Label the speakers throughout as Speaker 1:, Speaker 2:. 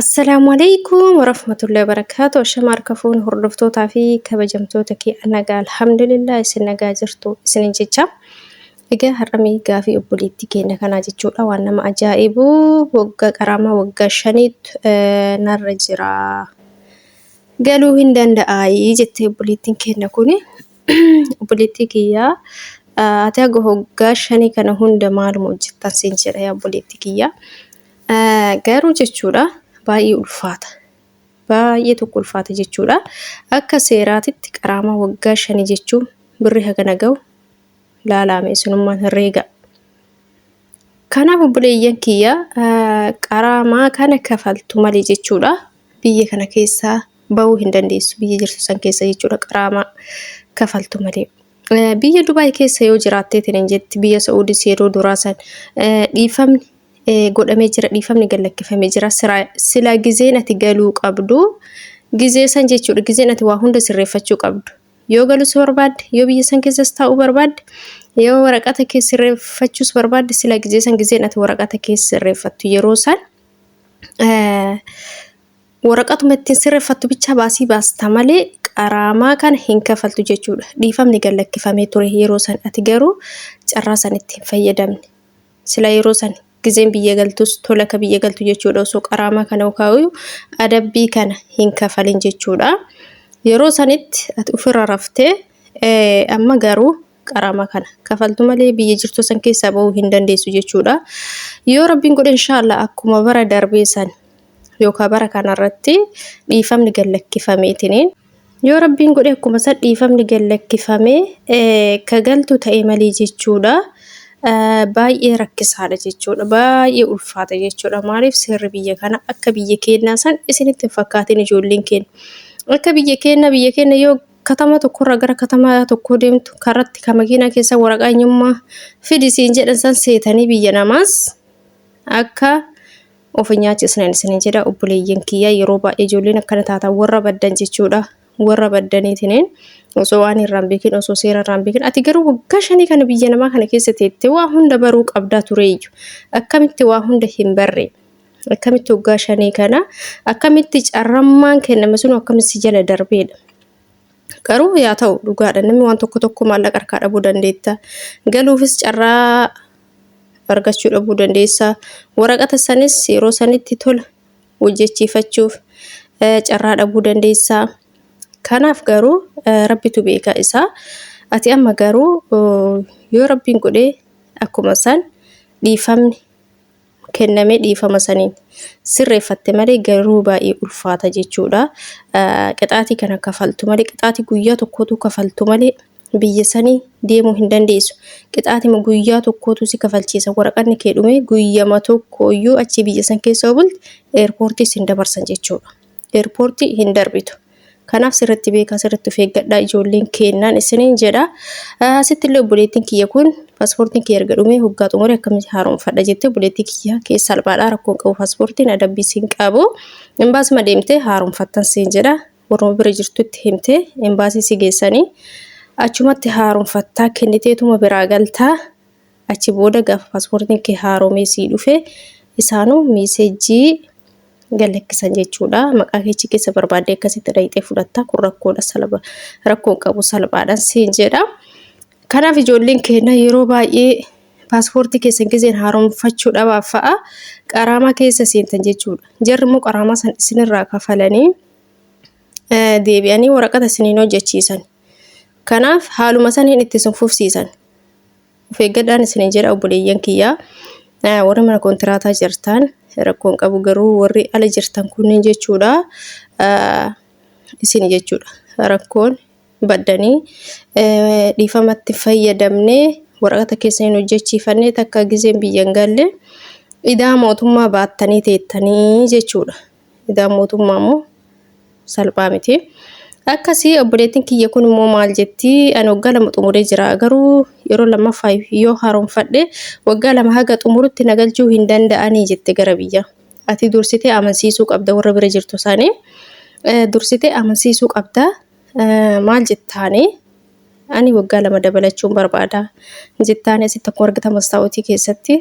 Speaker 1: Assalaamu aleykum warahmatullahi wabarakaatu Ashama harka fuun hordoftootaa fi kabajamtoota kee anaga alhamdulillah isin nagaa jirtu isinin jecha egaa har'amee gaafii obboleettii keenya kanaa jechuudha waan nama ajaa'ibu waggaa qaraamaa waggaa shaniitu eh, narra jira galuu hin danda'aayii jettee obboleettiin keenya kuni obboleettii kiyyaa ah, ati haga waggaa shanii kana hunda maaluma hojjettan siin jedha yaa obboleettii kiyyaa Garuu jechuudha baay'ee ulfaata. Baay'ee tokko ulfaata jechuudha. Akka seeraatitti qaraamaa waggaa shanii jechuun birri hagana ga'u laalaame isinummaan herreega. Kanaaf obboleeyyan kiyya qaraamaa kana kafaltu malee jechuudha biyya kana keessaa ba'uu hin dandeessu biyya jirtu san keessa jechuudha qaraamaa kafaltu malee. Biyya Dubaay keessa yoo jiraattee tinin jetti biyya Sa'uudis yeroo duraa san dhiifamni godhamee jira dhiifamni gad lakkifamee jira sila gizeen ati galuu qabdu gizee san jechuudha gizeen ati waa hunda sirreeffachuu qabdu yoo galus barbaadde yoo biyya san keessas taa'uu barbaadde yoo waraqata kee sirreeffachuus barbaadde sila gizee san gizeen ati waraqata kee sirreeffattu yeroo san waraqatuma ittiin sirreeffattu bichaa baasii baasta malee qaraamaa kana hin kafaltu jechuudha dhiifamni gad lakkifamee ture yeroo san ati garuu carraa san ittiin fayyadamne. sila yeroo san gizeen biyya galtus tola ka biyya galtu jechuudha osoo qaraamaa kana ukaayu adabbii kana hin kafalin jechuudha yeroo sanitti ati ofirra raftee eh, amma garuu qaraamaa kana kafaltu malee biyya jirtu san keessaa ba'uu hin dandeessu jechuudha yoo rabbiin godhe inshaallah akkuma bara darbee san yookaan bara kanarratti dhiifamni gad lakkifameetiniin Yoo Rabbiin godhe akkuma san dhiifamni gad lakkifame ka galtu ta'e malee jechuudha baay'ee rakkisaadha jechuudha. Baay'ee ulfaata jechuudha. Maaliif seerri biyya kana akka biyya keenyaa san isinitti hin fakkaatin ijoolleen keenya. Akka biyya keenya biyya keenya yoo katama tokkorraa gara katama tokkoo deemtu karatti ka makiinaa keessa waraqaa eenyummaa fidi siin jedhan san seetanii biyya namaas akka of hin nyaachisnan isinin jedha obboleeyyan kiyya yeroo baay'ee ijoolleen akkana taatan warra baddan jechuudha warra baddaniitiniin osoo waan irraan beekin osoo seera irraan beekin ati garuu waggaa shanii kana biyya namaa kana keessa teette waa hunda baruu qabdaa tureeyyu akkamitti waa hunda hin barre akkamitti waggaa shanii kana akkamitti carrammaan kenname sun akkamitti jala darbeedha. Garuu yaa ta'u dhugaadha namni waan tokko tokko maallaqa harkaa dhabuu dandeetta galuufis carraa argachuu dhabuu dandeessa. Waraqata sanis yeroo sanitti tola hojjechiifachuuf eh, carraa dhabuu dandeessa. Kanaaf garuu eh, rabbitu beeka isaa. Ati amma garuu oh, yoo rabbiin godhee akkuma san dhiifamni kennamee dhiifama saniin sirreeffatte malee garuu baay'ee ulfaata jechuudha. Eh, Qixaatii kana kafaltu malee qixaatii guyyaa tokkootu kafaltu malee biyya sanii deemuu hin dandeessu. Qixaatima guyyaa tokkootu si kafalchiisa. Waraqanni kee dhumee guyyama tokkooyyuu achi biyya san keessa bulte eerpoortii sin dabarsan jechuudha. Eerpoortii hin darbitu. Kanaaf sirriitti beekaa sirriitti of eeggadhaa ijoolleen keennaan isiniin jedha. Asitti illee obboleettiin kiyya kun paaspoortiin kiyya erga dhumee hoggaa xumure akkamitti haaromfadha jettee obboleettii kiyya keessa salphaadhaa rakkoon qabu paaspoortiin adabbii siin qabu. Imbaasuma deemtee haaromfattan siin jedha. warruma bira jirtutti himtee embaasii si geessanii achumatti haaromfattaa kenniteetuma biraa galtaa achi booda gaafa paaspoortiin kee haaromee sii dhufe isaanuu miiseejjii gallakkisan jechuudha maqaa keechi keessa barbaaddee akkasitti dhayxee fudhattaa kun rakkoodha salpha rakkoon qabu salphaadhaan siin jedha. Kanaaf ijoolleen keenya yeroo baay'ee paaspoortii keessan gizeen haaromfachuu dhabaaf fa'a qaraamaa keessa seentan jechuudha. Jarri immoo qaraamaa san isinirraa kafalanii eh, deebi'anii waraqata isiniin hojjechiisan. Kanaaf haaluma saniin itti isin fufsiisan. Of eeggadhaan isiniin jedha obboleeyyan kiyyaa. Eh, Warri mana kontiraataa jirtan rakkoo hin qabu garuu warri ala jirtan kunniin jechuudha. eh, Isin jechuudha rakkoon baddanii dhiifamatti fayyadamnee waraqata keessa hin hojjechiifannee takka gizeen biyya hin galle idaa mootummaa baattanii teettanii jechuudha. Idaa mootummaa immoo salphaa miti. Akkasii obboleettiin kiyya kun immoo maal jetti ani waggaa lama xumuree jira garuu yeroo lammaffaa yoo haaromfadhe waggaa lama haga xumurutti na galchuu hin danda'anii jette gara biyya. Ati dursitee amansiisuu qabda warra bira jirtu isaanii dursitee amansiisuu qabda Maal jettaani? Ani waggaa lama dabalachuun barbaada. Jettaani asitti akkuma argitan mastaawutii keessatti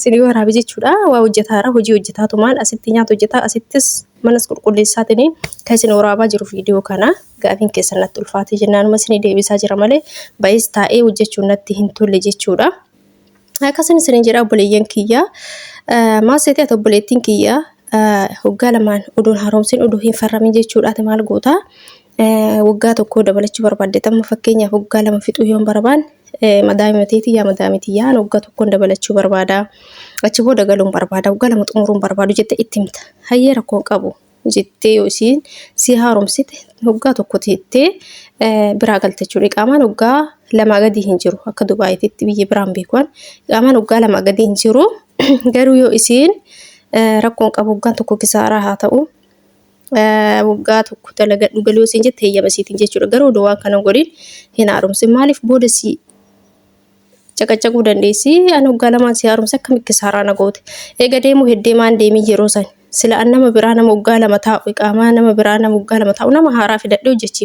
Speaker 1: sinii waraabe jechuudha. Waa hojjetaara hojii hojjetaa tumaan asitti nyaata hojjetaa asittis manas qulqulleessaatiin kan isin waraabaa jiru viidiyoo kana gaafiin keessan natti ulfaatee jennaanuma isinii deebisaa jira malee baay'ees taa'ee hojjechuun natti hin tolle jechuudha. Akkasuma isin jedha obboleeyyan kiyya maal seetee ati obboleettiin kiyya waggaa lamaan oduun haaromsin oduu hin farramin jechuudha ati maal goota waggaa tokko dabalachuu barbaadde tamma fakkeenyaaf waggaa lama fixuu yoon barbaan madaamimateeti yaa madaamiti yaa waggaa tokkoon dabalachuu barbaada achi booda galuun barbaada waggaa lama xumuruun barbaadu jette itti himta hayyee rakkoon qabu. jettee yoo isiin si haaromsite hoggaa tokko teettee biraa galte jechuudha. Iqaamaan hoggaa lamaa gadi hin jiru akka Dubaayitti biyya biraan beekuan iqaamaan hoggaa lamaa gadi hin jiru garuu yoo isiin rakkoon qabu hoggaan tokko kisaaraa haa ta'u waggaa tokko dalagadhu galuu isiin jette heeyyama isiitiin jechuudha. Garuu odoo waan kana godhin hin haaromsin maaliif booda si caqacaquu dandeessi an hoggaa lamaan si haaromse akkamitti kisaaraa na goote eega deemuu heddee maan deemii yeroo san sila an nama biraa nama hoggaa lama taa'u iqaamaa nama biraa nama hoggaa lama taa'u nama haaraa fidadhe hojjechi